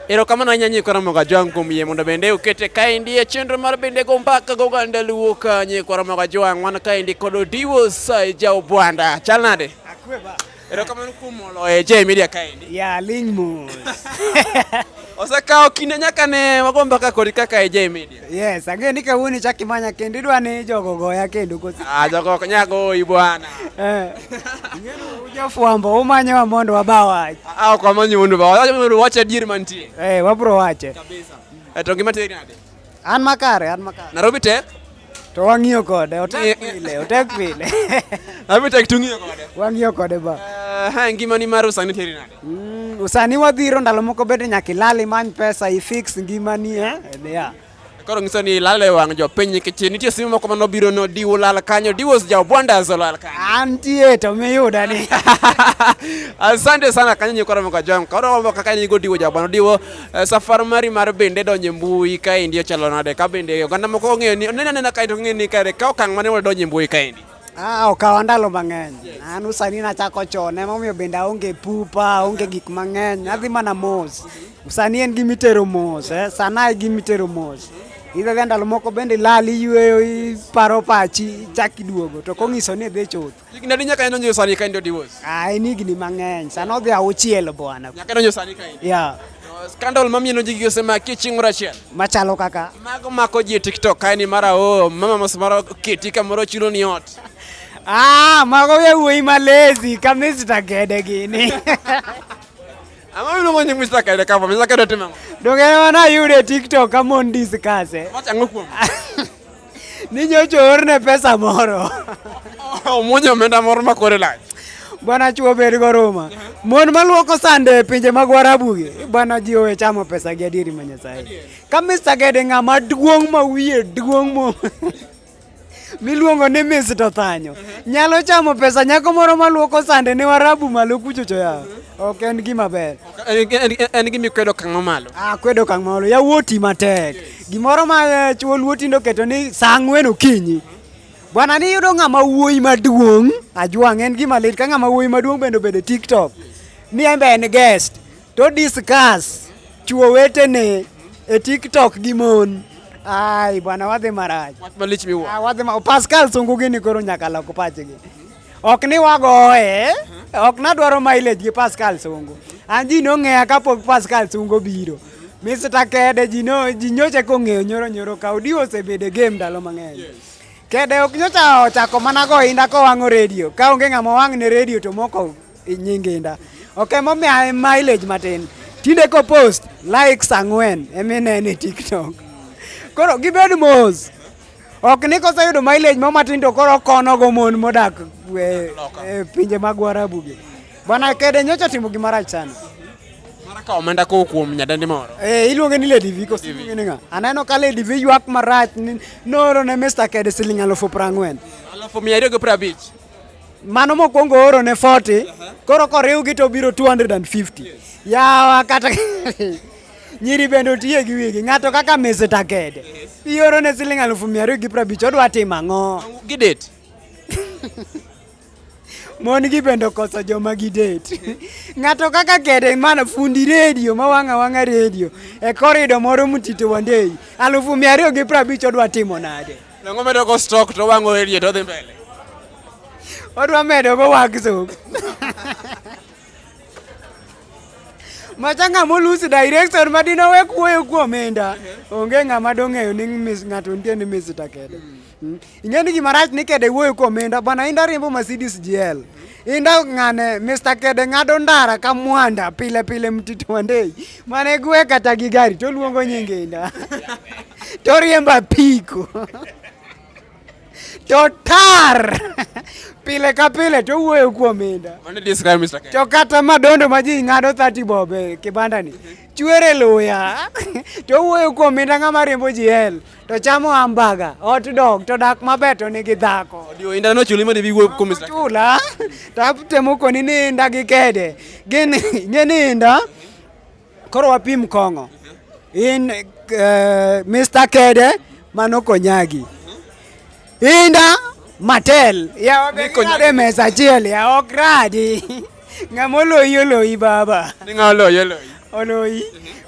Erokamano ahinya nyikwa Ramogi Ajwang' kuom yie mondo bende ukete kaendi e chenro mar bende go mbaka go ganda luo ka nyikwa Ramogi Ajwang' wan kaendi kod Odiwo Sai Jaobwanda. Chal nade? Akweba. Erokamano kuom molo e J Media kaendi. Ya ling mos. Osekawo kinde nyaka ne wago mbaka kodi kaka e J Media. Yes, ang'e ni kawuono ichak imanya kendo idwa ni jogo goya kendo kosi. Ah, jogo ok nya goyi bwana. Eh. Jofwambo umanyowa mondo waba wach. Ah, ok wamanyi mondo waba wach. Mondo wach adier mantie. Eh, wabro wache. Kabisa. Eh, to ngima teri nade? An makare, an makare. Nairobi tek? To wang'iyo kode, otek pile, otek pile. Nairobi tek tung'iyo kode. Wang'iyo kode ba. Eh, ngima ni mar usani teri nade? Mm, usani wadhiro ndalo moko bende nyaka ilal imany pesa ifix ngimani eh? yeah. Koro ngiso ni ilal e wang' jopiny nikech nitie simu moko mane obiro no diwo lal kanyo diwos ja obwanda zolal kanyo. Antie to miyuda ni. Asante sana kanyo nyikoro moko jong. Koro wambo kaka ni go diwo ja obwanda diwo eh, safar mari mar bende donje mbui ka indi ochalo nade ka bende oganda moko ong'eyo ni onena nena kae to ong'eyo ni kare ka okang' mane wadonje mbui ka indi. Ah, okawa ndalo mang'eny. An usani nachako chon, emomiyo bende aonge pupa, aonge gik mang'eny. Adhi mana mos. Usani en gima itero mos, eh? Sana e gima itero mos. Idhadhi ndalo moko bende ilal, iyweyo, iparo pachi, ichak iduogo. To kong'iso ni idhi chuth. Higni adi nyaka inonyo sani ka in divorce? Ah, en higni mang'eny. Sana odhi auchiel bwana. Nyaka inonyo sani ka in. Yeah. Scandal mami no jigi osema kiching Rachel. Machalo kaka. Mago mako ji TikTok kae ni mara o oh, mama mos mara kiti kamoro chulo ni ot. Ah, mago ya wuoyi malezi kama Mr. Gede gini. Ama wilo mwenye Mr. Gede kama Mr. Gede timamo. Dongere wana yule TikTok kama on discuss. Macha eh. ngokuwa. Ni nyocha oorne pesa moro. Omuonyo omenda moro ma kore lach. Bwana chuo bed goruma. Mon maluoko sande e pinje mag Warabugi, bwana ji owe chamo pesa gi adieri ma Nyasaye. Ka Mr. Gede ng'ama duong' ma wiye duong' mo miluongo ni Mr. Thanyo nyalo chamo pesa nyako moro maluoko sande ne Warabu malo kuchocho ya. Ok en gima ber. En- en- en- En gima ikwedo okang' mamalo. Ah, kwedo kang' malo yawuoti matek. Gimoro ma eh, chuo luo tindo keto ni saa ang'wen okinyi. Bwana ni yudo ng'ama wuoyi maduong' ajwang' en gima lit ka ng'ama wuoyi maduong' bende obedo e TikTok. Ni en be en guest to discuss chuo wetene e TikTok gi mon. Ai bwana wadhi marach. Wach malich miwuoro. Ah, wadhi ma Pascal sungu gini koro nyaka lok pachgi. ok ni wagoye ok nadwaro mileage gi Pascal Sungu an ji nong'eya kapok Pascal Sungu biro Mr. Kede ji no ji nyocha kong'eyo nyoro nyoro ka odi osebedo e game ndalo mang'eny Kede ok nyocha ochako mana go inda kowang'o redio ka onge ng'ama wang' ne redio to moko nying inda ok emomiya mileage matin tinde ko post likes ang'wen eminene TikTok koro gibed mos ok ni koseyudo mileage mo matin to koro okonogo mon modak e, e pinje mag warabu gi bwana kede nyocha timo gimarach sana Mara ka omenda kowo kuom nyadendi moro. Eh, iluonge ni Lady V koso iluonge ni ng'a? Aneno ka Lady V ywak marach ni nooro ne Mr. Kede siling alufu prang'wen. Alafu mia ariyo gi piero abich. Mano mokwongo ooro ne 40, koro koriwgi to biro 250. Yawa kata Nyiri bende otiye gi wigi. Ng'ato kaka Mese Takede. Ioro ne siling alufu mia ariyo gi prabich. Odwa timo ang'o? Gi date. Mon gi bende okoso joma gi date. Ng'ato kaka Kede mana fundi redio ma wang'a wang'a redio. E korido moro mutito wandei. Alufu mia ariyo gi prabich odwa timo nade? Nango medo ko stock to wango elie to dhi mbele. Odwa medo go wagzo. macha ng'ama olusi direction ma dine owe kuoyo kuom omenda onge ng'ama dong'eyo ni ng'ato nitie ni misita kede hmm. ing'e ni gima rach ni kede wuoyo kuom omenda bwana inda riembo Mercedes GL inda ng'ane Mr. Kede ng'ado ndara ka mwanda pile pile mtito wandei mane gwe kata gi gari to luongo nyinge inda to riemba piko Totar! pile ka pile to wuoyo kuom inda. Mano describe Mr. Kenya. To kata madondo ma ji ng'ado 30 bobe kibanda ni. Chwere luya. to wuoyo kuom inda ng'ama riembo ji hel. To chamo hamburger, hot dog, to dak maber to nigi dhako. Odio inda no chuli madi wuoyo kuom Mr. Chula. Tap temo koni ni inda gi kede. Gin ng'e ni inda. Koro wapim kong'o in uh, eh, Mr. Kede mano konyagi inda matel yawabeade mesa achiel ya ok radi ng'ama oloyi oloyi baba oloyi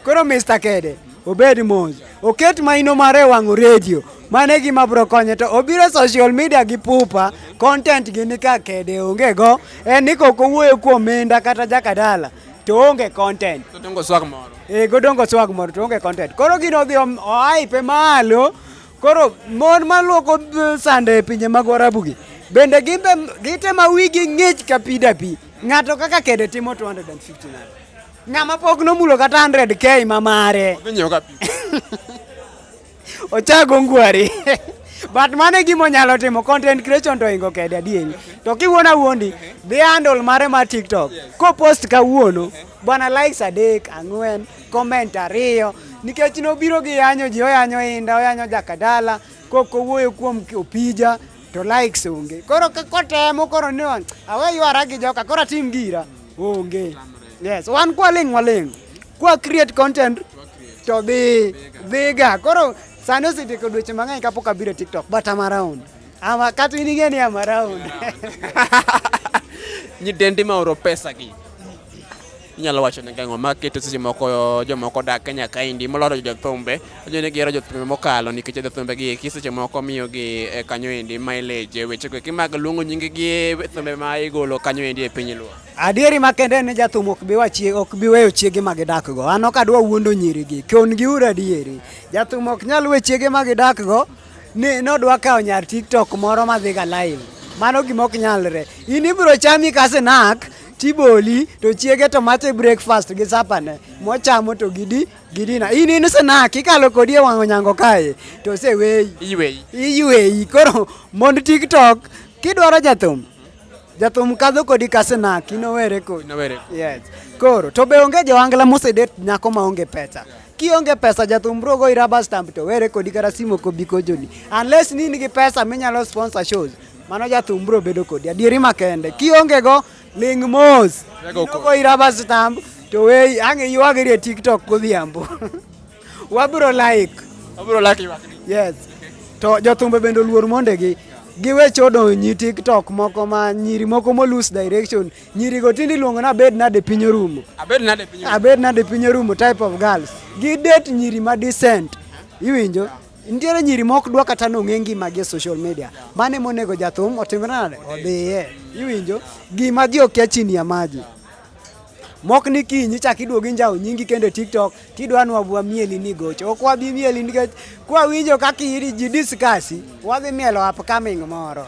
koro Mr. Kede obed mos oket maino mare wang'o redio mano e gima bro konye to obiro e social media gi pupa content gi ni ka kede onge go en ni kok owuoyo kuom minda kata jakadala to onge content. To dongo swag moro. Eh, godongo swag moro to onge content. Koro gino odhi oaipe malo. Koro mon maluoko eh, sande e pinje mag Warabu gi bende gimbe gitema wigi ng'ich ka pi da pi. Ng'ato kaka kede timo 250 nade. Ng'ama pok nomulo kata 100k ma mare. Odhi nyiewo ka pi. Ochago ngwari. But mano e gima onyalo timo content creation to ingo kede adieri. To kiwuona wuondi dhi handle mare mar TikTok. Ko post kawuono bwana likes adek, ang'wen, comment ariyo nikech nobiro gi yanyo ji oyanyo inda oyanyo jakadala kok owuoyo kuom opija to likes onge. Koro kotemo koro ni awe ywara gi joka koro atim gira onge. Yes, wan kwaling' waling'. Kwa create content to dhi dhiga. Koro sani osetieko dweche mang'eny kapok abiro TikTok but I'm around. Ama kata in ing'e ni I'm around. Nyidendi ma oro pesa gi. Inyalo wacho ne gang'o ma keto seche moko jomoko dak Kenya kaendi moloro jothumbe. Ojo ne gihero jothumbe mokalo nikech jothumbe gi eki seche moko miyo gi e, kanyo endi mileage weche go eki mag luongo nying gi e, thumbe ma igolo kanyo endi e piny luo. Adieri makende en ni jathum ok bi wachie ok bi weyo chiege ma gidakgo. An ok adwa wuondo nyirigi. Kon gi ur adieri. Jathum ok nyal we chiege ma gidakgo ni nodwa kawo nyar TikTok moro ma dhiga live. Mano gima ok nyalre. In ibiro chami ka snack tiboli to chiege to mache breakfast gi sapane mochamo to gidi gidina in in snack ikalo kodi e wang'o nyango kae to oseweyi Iweyi. iywei koro mond tiktok kidwaro jathum Jathum kadho kodi kasenaki nowere kodi. Nowere. Yes. Koro to be onge jowangla mosedet nyako ma onge pesa. Kionge pesa jathum bro go rubber stamp to were kodi kata simo kobi kojoni. Unless ni nigi pesa minyalo sponsor shows. Mano jathum bro bedo kodi. Adieri makende. Kionge go ling mos. Rego Go rubber stamp to we ange yuagiri e TikTok godhiambo. Wabro like. Wabro like ywakni. Yes. To jothumbe bende oluor mondegi. Giwe chodo nyi TikTok moko ma nyiri moko mo lose direction. Nyiri go tindi luongo na bed na de piny orumo. Abed na de piny orumo. Abed na de piny orumo type of girls. Gi date nyiri ma decent. Iwinjo? Yeah. nitiere nyiri mok dwa kata nong'e ngimagi e social media mane monego jathum otimre nade odhiye iwinjo gima ji okia chini ya maji mok ni kiny ichak iduogi njawo nyingi kende tiktok tidwa ni wabwa mieli ni gocho ok wabi mieli nikech kwawinjo kaka iri ji diskasi wadhi mielo upcoming moro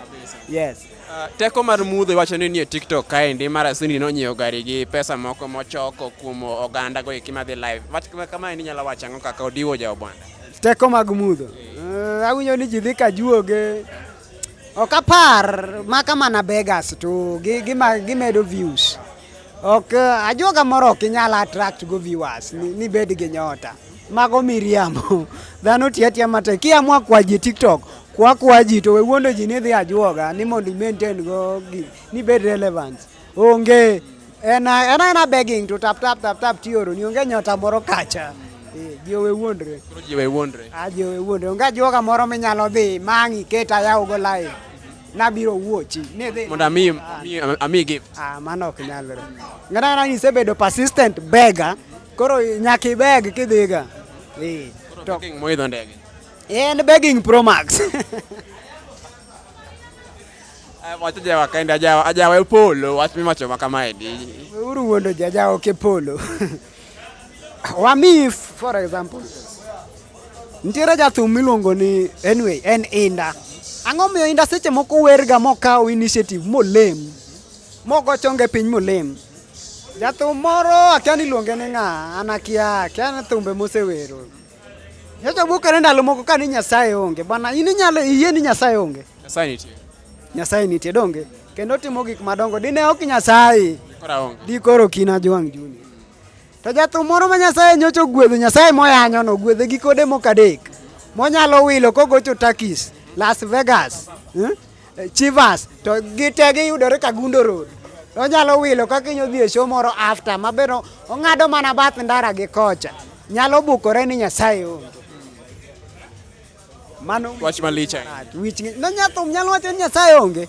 yes uh, teko mar mudho iwacho ni nie tiktok kaendi mara sindi nonyiewo gari gi pesa moko mochoko kuom oganda go eki madhi live kama endi nyalo wacho ang'o kaka odiwo jaobwana teko mag mudho uh, awinjo ni ji dhi ka juoge Ok apar maka mana beggars to gimedo views. Ok eh, ajuoga moro ok inyal attract go viewers ni bed gi nyota. Mago miriambo. Dhano tiyo atiya matek. Kiamua kwa ji TikTok kwa kwa ji to we wuondo ji ni dhi ajuoga ni mondo i maintain go ni bed relevance. Onge en en ana begging to tap tap tap tap tioro ni onge nyota moro kacha. Eh, jiwe wuondre. Koro jiwe wuondre. Ah, jiwe wuondre. Onge joga moro minyalo dhi mangi keta yawo go live. Nabiro wuochi. Ne dhi. Mondo ami ami- ami gift. Ah, mano ok nyalre. Ng'ata ng'ata ni isebedo persistent beggar, koro nyaka ibeg kidhiga. Eh. To King moidho ndege. en begging pro max. Eh, watu ja wakaenda ajawa ajawa upolo watu mimi macho kama edi uru wondo jajawa ke polo wa mi for example ntiere jathum miluongo ni anyway en inda ang'o miyo inda seche moko werga mokawo initiative molem mogo chonge piny molem jathum moro akia ni luonge ni ng'a an akia akia ni thumbe mosewero Nyocha wuok kane ndalo moko kane Nyasaye onge. Bwana in inyalo iyie ni Nyasaye onge. Nyasaye nitie. Nyasaye nitie donge. Kendo timo gik madongo dine ok Nyasaye. Kora onge. Di koro kina jwang' juni. To jathum moro ma Nyasaye nyocha ogwedho Nyasaye moyanyo no gwedhe gi kode moko adek. Monyalo wilo kogocho Turkish, Las Vegas. Hmm? eh, Chivas to gite giyudore Kagundo Road. Onyalo wilo kaka inyo dhi e show moro after mabeno ong'ado mana bath ndara gi kocha. Nyalo bukore ni Nyasaye onge. Mano wach malich ahinya. Wich no nyathum nyalo wacho ni Nyasaye onge.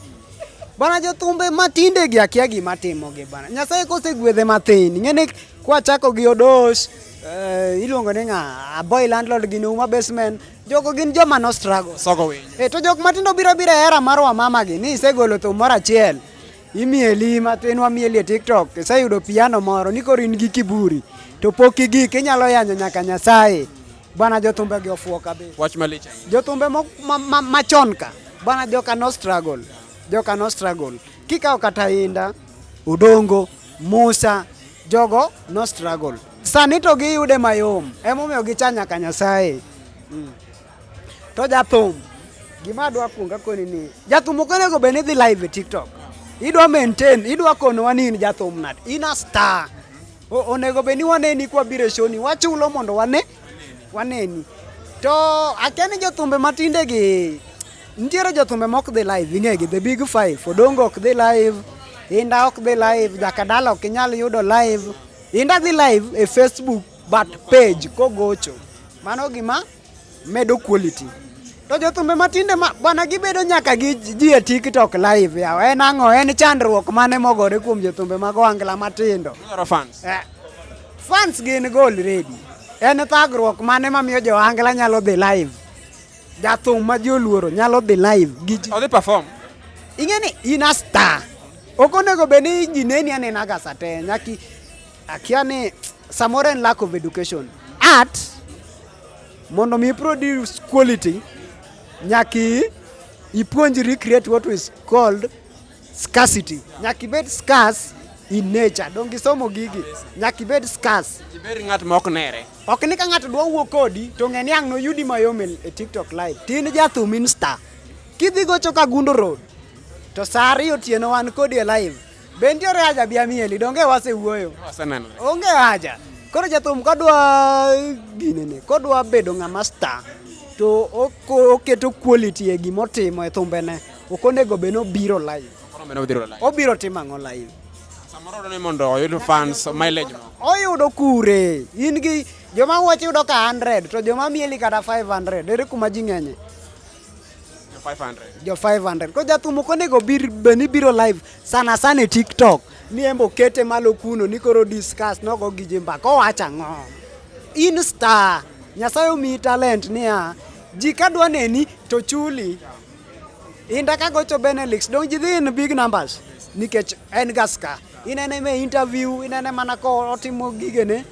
Bana jothumbe matinde gi akia gima timogi bana. Nyasaye kosegwedhe mathin. Ng'ene kwachako gi Odos, eh, iluongo ni ng'a Aboy landlord gi Numa basement Jogo gin joma no struggle. Sogo winyo. E to jok matindo biro biro e era mar wamama gi ni isegolo thum moro achiel. Imieli matin wamieli e TikTok. Iseyudo piano moro ni koro in gi kiburi. To pok igik inyalo yanyo nyaka Nyasaye. Bwana jothumbe gi ofuo kabisa. Wach malich. Jothumbe mo- ma- ma- machon ka. Bwana joka no struggle. Joka no struggle. Kikawo kata inda, odongo, musa, jogo no struggle. Sani to giyude mayom, emomiyo gicha nyaka Nyasaye. Mm. To jathum, gima adwa kuonga koni ni, jathum ok onego bed ni dhi live e TikTok. Idwa maintain, idwa konowa ni in jathum nade, in a star. Onego bed ni waneni kwa biro e shoni, wachulo mondo wane, waneni. To akia ni jothumbe matinde gi, nitiere jothumbe ma ok dhi live, ing'egi, the big five, Odongo ok dhi live, Inda ok dhi live, Jakadala ok inyal yudo live. Inda dhi live e Facebook but page kogocho. Mano gima medo quality. To jothumbe matinde ma, bwana gibedo nyaka gi ji e TikTok live yawa. En ang'o? En chandruok mane mogore kuom jothumbe mag wangla matindo? Dwaro fans. Eh, fans gin go already. En thagruok mane mamiyo jo wangla nyalo dhi live? Jathum ma ji oluoro nyalo dhi live gi ji. Odhi perform. Ing'e ni in a star. Ok onego bed ni ji neni anena ga sa te. Nyaki akia ni samoro en lack of education. Art mondo mi produce quality nyaki ipuonjri create what is called Scarcity. Nyaka ibed scarce in nature. Donge isomo gigi? Nyaka ibed scarce. Ibed ng'at ma ok nere. Ok ni ka ng'ato dwa wuo kodi to ng'e ni ang' noyudi mayom e e TikTok live. Tin jathum insta. Kidhi gocho ka Gundo Road to saa ariyo otieno wan kodi e live. Be nitiere haja bi amieli? Donge wasewuoyo? Waseneno. Onge haja. Koro jathum kodwa ginene, kodwa bedo ng'ama star to oko- oketo quality e gimotimo e thumbene. Ok onego bed ni obiro live. Koro meno biro live. Obiro timo ang'o live? Samoro odwaro ni mondo oyud fans mileage moko. Oyudo kure? In gi joma wacho yudo ka 100 to joma mieli kata 500 ere kuma ji ng'enye? Jo 500. Jo 500. Ko jathum ok onego bir bed ni biro live sana sana e TikTok. Ni embo kete malo kuno ni koro discuss nogo gi ji mbaka owacho ang'o? In star. Nyasaye omiyi talent niya ji ka dwa neni to chuli. Inda ka gocho Benelix, don't you in big numbers? Nikech en gaska. Inene me interview, inene mana ko otimo gigene.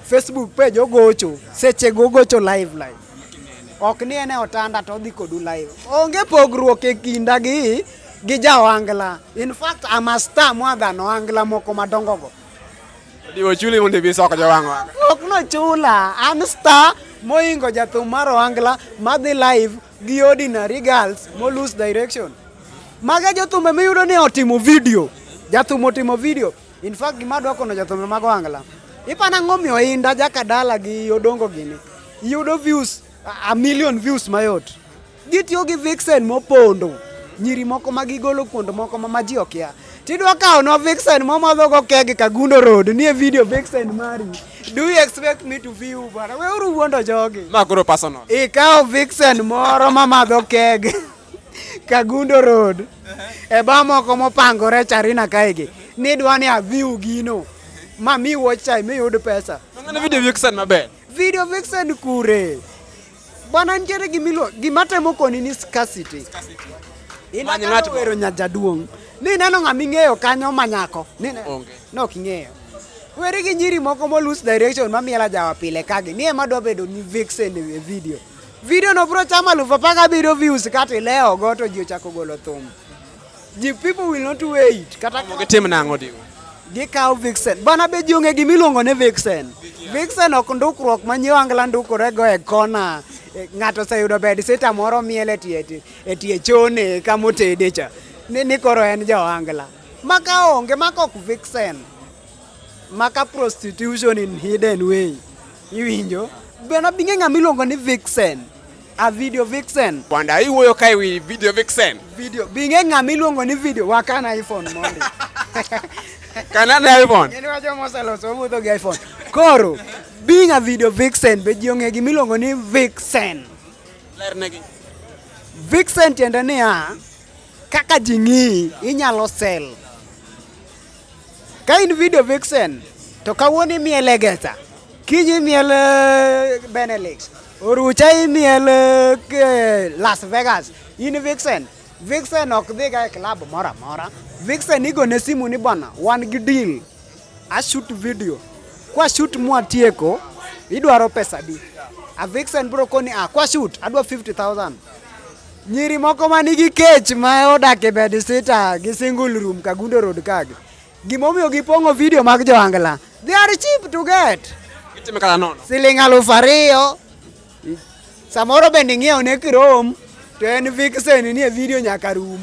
Facebook page ogocho, seche go gocho live live. Ok ni ene otanda to dhi kodu live. Onge pogruok e kinda gi gi ja Ohangla. In fact, I'm a star more than Ohangla moko madongo go. Diwo chuli mondo ibi soko jo wang'wa. Ok no chula, I'm star moingo jathum mar Ohangla madhi live gi ordinary girls mo lose direction. Maga jothum ema iyudo ni otimo video. Jathum otimo video. In fact gima adwa kono jathum mago angla. Ipana ang'o miyo inda jakadala gi odongo gini. Iyudo views a million views mayot. Gitiyo gi vixen mopondo. Nyiri moko ma gigolo kuond moko ma ji okia. Tidwa kawo no vixen momadho go keg Kagundo Road nie video vixen mari. Do you expect me to view bana? We uru wuondo jogi. Ma koro personal. Ikawo vixen moro mamadho keg Kagundo Road. E ba moko mopangore Charina kaegi. Nidwa ni aview gino. Ma mi watch time miyud pesa. Ng'ane video vixen maber. Video vixen kure? Bwana nitiere gimilo gima temo koni ni scarcity. Many ng'at Inataka wero nyajaduong'. Ni neno ng'ama ing'eyo kanyo manyako. Ni ne- Onge. Nok ing'eyo. Weri gi nyiri moko molus direction mamiela jawa pile kagi. Ni ema dwa bedo ni vixen e video. Video no bro chama alufu apar gabiriyo views kata ilewo go to ji ochako golo thum. The people will not wait. Kata gitim nang'o diwa? Gikawo vixen. Bana be jonge gima iluongo ni vixen. Vixen ok ndukruok ma nyiwangla ndukorego e kona. E, ng'ato oseyudo bed sita moro miel e tie e tie chone kama otede cha. Ni, ni koro en jawangla. Maka onge, maka ok vixen. Maka prostitution in hidden way. Iwinjo? Bana binge ng'ama iluongo ni vixen. A video vixen. Kwanda hii huyo kai wi video vixen. Video. Binge ngami luongo ni video wakana iPhone mondi. Kanana iPhone. Ngeni wacho mosalo so mudho gi iPhone. Koro being a video vixen be ji ong'e gima iluongo ni vixen. Lernegi. Vixen tiende niya kaka ji ng'iyi inyalo sell. Ka in video vixen to kawuono imiele Gesa, kiny imiele Benelix, Orucha imiel eh, Las Vegas in Vixen. Vixen ok dhiga e club moro amora. Vixen igone simu ni bwana wan gi deal. A shoot video. Kwa shoot mwatieko idwaro pesa di. A Vixen bro koni a ah, kwa shoot adwa 50,000. Nyiri moko ma nigi kech ma odak e bed sita gi single room Kagundo Road kagi. Gimomiyo gipong'o video mag joangla. They are cheap to get. Itime kala nono. Siling aluf ariyo. Samoro bende ing'iewo ne kirom to en vixen nie video nyaka rum.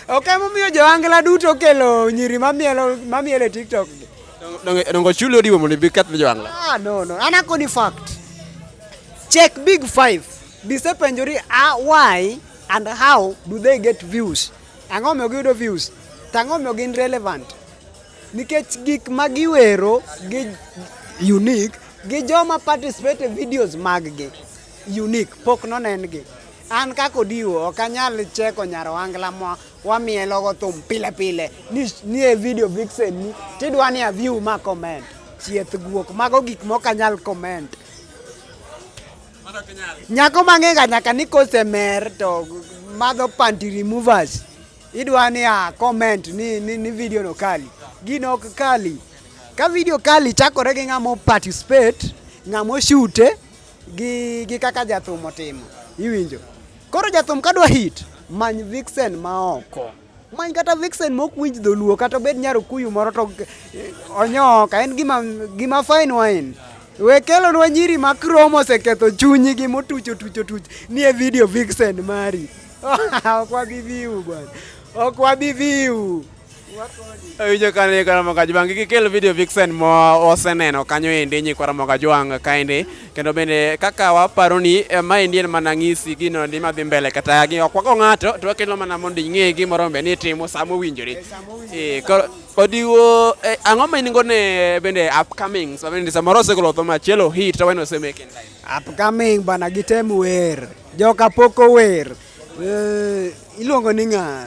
Ok emomiyo joangla duto kelo nyiri mamielo mamielo e TikTok. Donge donge chuli odiwo mondo ibi keth joangla. Ah no no. An akoni fact. Check big five. Bisepenjori ah, why and how do they get views? Ang'o omiyo giyudo views? To ang'o omiyo gin relevant? Nikech gik ma giwero gi unique gi joma participate e videos maggi unique pok nonengi. An kaka Odiwo ok anyal cheko nyar wangla ma wamielogo thum pile pile ni ni e video vixen ni tidwa ni a view ma comment. Chieth guok, mago gik mok anyal comment. Nyako mang'ega nyaka ni kosemer to madho panty removers. Idwa ni a comment ni, ni, ni video no kali. Gino ok kali. Ka video kali chakore gi ng'amo participate, ng'amo shute gi, gi kaka jathum otimo. Iwinjo? Koro jathum kadwa hit, many vixen ma oko. many kata vixen mok winj dholuo kata obed nyar okuyu moro to eh, onyoka en gima, gima fine wine we kelonwa nyiri ma krom oseketho chunygi motuch otuch otuch ni e video vixen mari ok wabi viu bwana ok wabi viu awinjo kane karamoka jwang' gikel video vixen moseneno kanyo endi nyikwaramoka jwang' kaendi kendo bende kaka waparo ni eh, maendi en mana ng'isi gino ni madhi mbele kata gi okwako ng'ato to wakelo mana mondo ing'e gimoro mbe ni itimo sama owinjore eh, odiwo eh, ang'o ma in go ne bende upcoming so bende samoro osegolo tho machielo hit to weno osemeken upcoming bana gitem wer joka pok ower Eh, iluongo ni ng'a?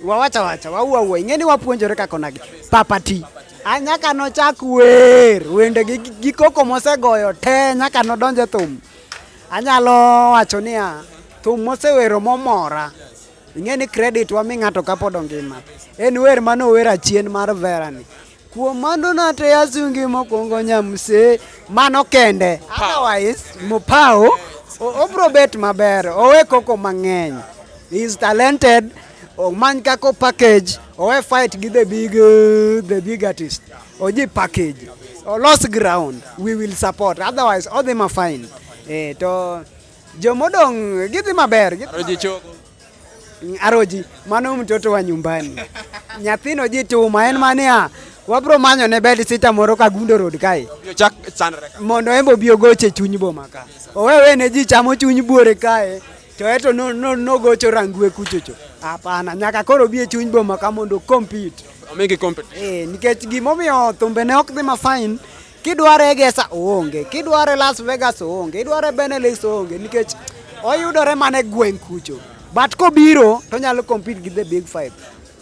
Wawacha wacha, waua ua. Ing'eni wapuonjore kaka onagi. Papati. A nyaka nochak wer, wende gi, gi koko mosegoyo te nyaka nodonje thum. Anyalo wacho niya, thum mosewero momora. Ing'eni credit wami ng'ato kapod ongima. En wer manower achien mar Verani. Kuom mano nate asungi mokwongo nyamse mano kende. Otherwise Mopao obro bet maber owe koko mang'eny. He is talented omany kako package owe fight gi the big uh, the big artist oji package olos ground we will support otherwise odhi ma fine eh, to jomodong' gidhi maber gidhi maber. Aroji, mano mtoto wa nyumbani. Nyathino ji tuma en mania wabro manyo ne bed sita moro ka gundo road kae mondo embo obi ogoche chuny boma ka owewe ne ji chamo chuny buore kae to eto nogocho rangue kuchocho hapana nyaka koro bi e chuny boma ka mondo compete eh, nikech gimomiyo thumbene ok dhi masain Kidware Egesa oonge, kidware Las Vegas oonge, idware Benelux oonge nikech oyudore mana e gweng' kucho. But kobiro to onyalo compete gi the big five.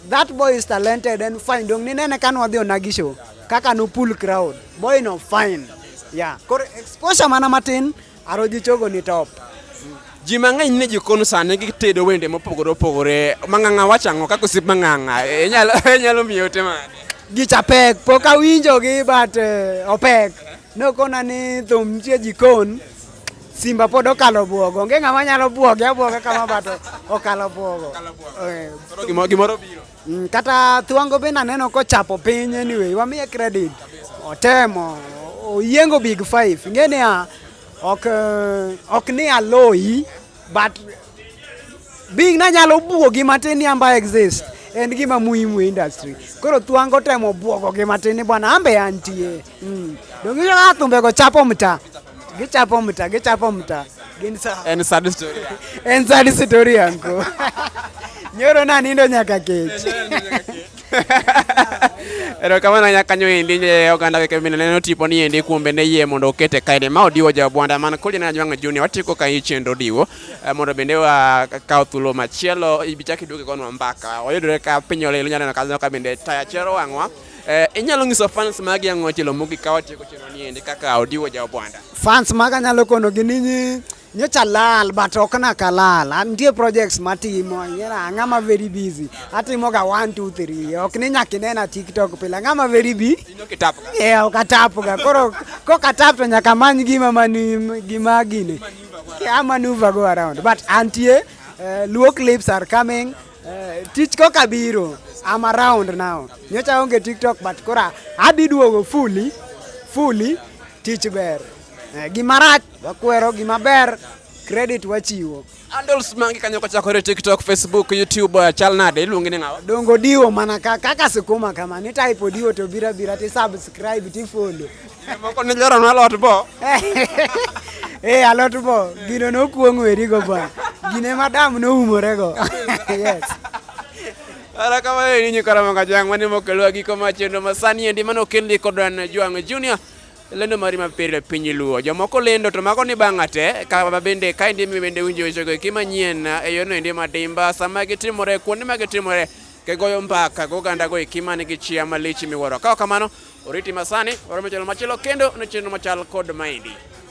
That boy is talented and fine. Dong ninene ka nwadhi onagi show kaka no pull crowd. Boy no fine. Yeah. Koro exposure mana matin Aroji chogo ni top. Ji mang'eny ni jikon sani gitedo wende mopogore opogore. Mang'ang'a wacho ang'o kaka osiep mang'ang'a? E, inyalo inyalo miye ote mane? Gicha pek, pok awinjogi but eh, opek. Nokona ni thum nitie jikon. Simba pod okalo bwogo. Onge ng'ama nyalo bwoge abwoga kama but okalo bwogo. Eh, Koro gimoro gimoro biro. Mm, kata Thwango be naneno kochapo piny anyway, wamiye credit. Otemo, oyiengo big five. Ng'e niya, ok, eh, ok ni aloyi, but being nanyalo buogi matin ni amba exist en gima muhimu e industry. Koro Thwango temo buogogi matin ni bwana ambe antie. Mm. Dong ijo ka thumbe go chapo mta. Gichapo mta, gichapo mta. Gin sa. En sad story. en sad story anko. Nyoro na nindo nyaka kech. Erokamano ahinya kanyo endi nye oganda weke mine neno tipo ni endi kuom bende yie mondo okete kaede ma odiwo jabwanda man kodi na jwanga juni watiko ka ichendo diwo eh, mondo bende wa kawo thulo machielo ibichaki duke konwa mbaka oyudore ka piny olelo nyalo ka ka bende taya chero wangwa Eh, inyalo nyiso fans magi ang'o chilo mugi kawa tieko chino ni ende kaka odiwo ja obwanda. Fans maga nyalo kono gi ninyi nyocha lal but ok na kalal nitie projects matimo yera ng'ama very busy atimo ga 1 2 3 ok ni nyaka inena tiktok pile ng'ama very busy ino kitap ga yeah ok atap ga koro kok atap to nyaka many gima mani gima gine yeah maneuver go around but antie uh, luo clips are coming Eh, tich koka biro. I'm around now. Nyocha onge TikTok but kora adhi duogo fully fully tich ber. Eh, gima rach wakwero, gima ber credit wachiwo. Handles mangi kanyo kochakore TikTok, Facebook, YouTube eh, chal nade iluongi ni ng'awa? Dongo diwo mana kaka sikuma kama ni type diwo to bira bira ti subscribe ti follow. Moko ne jaro na lot bo. Eh, alot bo. Gino no kuong weri go ba. Gine madam no umore go. Yes. Ara kama ni nyi karama ka jang mani mo kelwa gi koma chendo masani endi mano kelli ko dan juang junior. Lendo mari ma pere pinyi luo. Jomoko lendo to mako ni bangate ka bende ka ndi mi bende unjo icho ki manyien e yono endi madimba sama gitimore kuonde ma gitimore ke goyo mbaka go ganda go ikimani gi chia malichi miworo. Ka kamano Oriti Masani, oromo channel machielo kendo ne channel machal kod maendi.